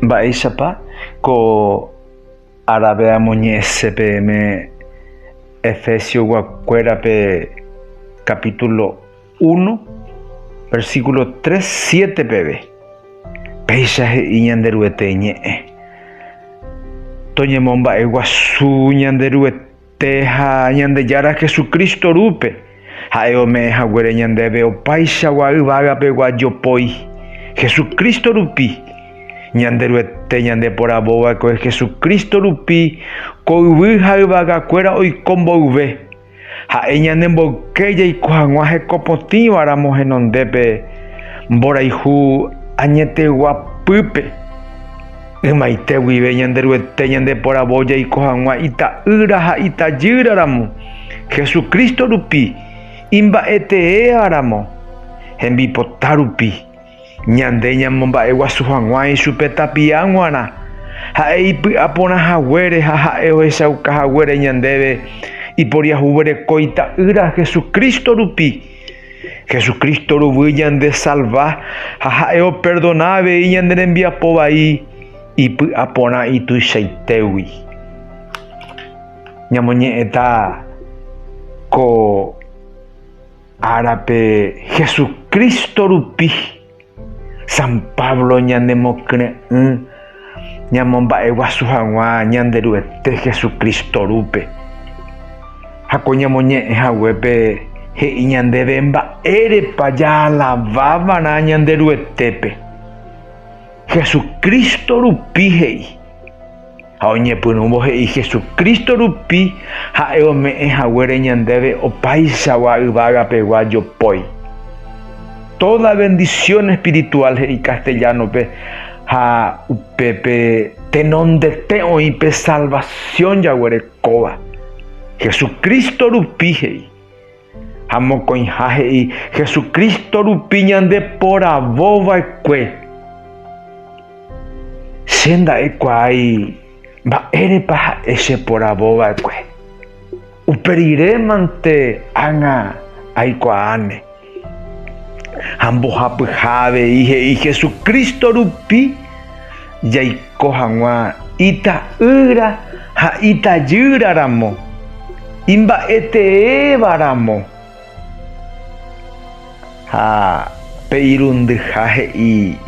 Mba'éichapa ko árape amoñe'ẽse peẽme Efesiokuérape kapítulo uno, versíkulo tres, siete peve? Péicha he'i Ñanderuete Ñe'ẽ, Toñemomba'eguasu Ñanderuete. Tee ha Ñandejára Jesucristo rúpe, ha'e ome'ẽ haguére ñandéve opaichagua yvágapegua jopói, Jesucristo rupi. Ñanderuete ñandeporavova'ekue Jesucristo rupi ko yvy ha yvagakuéra oiko mboyve, ha'e ñane mboyke jaiko hag̃ua hekopotĩva ramo henondépe mborayhu añetegua pýpe. Ymaite guive Ñanderuete ñandeporavo jaiko hag̃ua ita'ýra ha itajýra ramo, Jesucristo rupi, imba'eteéva ramo, hembipota rupi. Ñande ñamomba'eguasu hag̃ua ichupe tapia g̃uarã, ha'e ipy'a porã haguére ha ha'e ohechauka haguére ñandéve iporiahuvereko ita'ýra Jesucristo rupi. Jesucristo ruguy ñande salva ha ha'e operdona avei ñande rembiapo vai ipy'aporã ituichaitégui. Ñamoñe'ẽta ko árape Jesucristo rupi. San Pablo ñanemokyre'ỹ ñamomba'eguasu hag̃ua Ñanderuete Jesucristo rúpe. Ha ko ñamoñe'ẽ haguépe he'i ñandéve mba'érepa jaalavávarã Ñanderuetépe. Jesucristo rupi he'i. Ha oñepyrũvo he'i Jesucristo rupi ha'e ome'ẽ haguére ñandéve opáichagua yvága pegua jopói. Toda bendición espiritual he'i castellano pe ha upépe tenondete oĩ pe salvación jaguerekóva. Jesucristo rupi he'i. Ha mokõiha he'i, Jesucristo rupi ñande poravo vaekue. Che nda'ekuaái mba'érepa ha'e che poravo vaekue. Upe rire mante ág̃a aikuaáne. Ha mbohapyha avei he'i, Jesucristo rupi. Jaiko hag̃ua ita'ýra ha itajýra ramo, imba'eteéva ramo. Ha pe irundyha he'i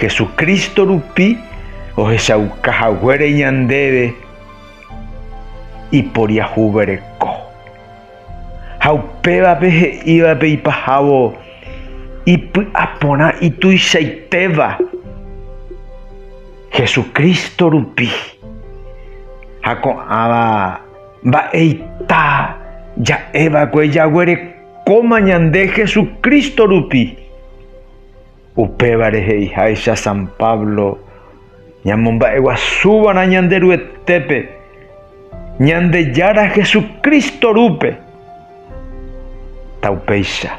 Jesucristo rupi ohechauka haguére ñandéve iporiahuvereko. Ha upévape he'ívape ipahávo ipy'aporã ituichaitéva Jesucristo rupi. Ha ko'ãva mba'eita ja'éva'ekue jaguerekóma ñande Jesucristo rupi. Upévare he'iháicha San Pablo, ñamomba'eguasúva'erã Ñanderuetépe, Ñandejára Jesucristo rúpe. Taupéicha.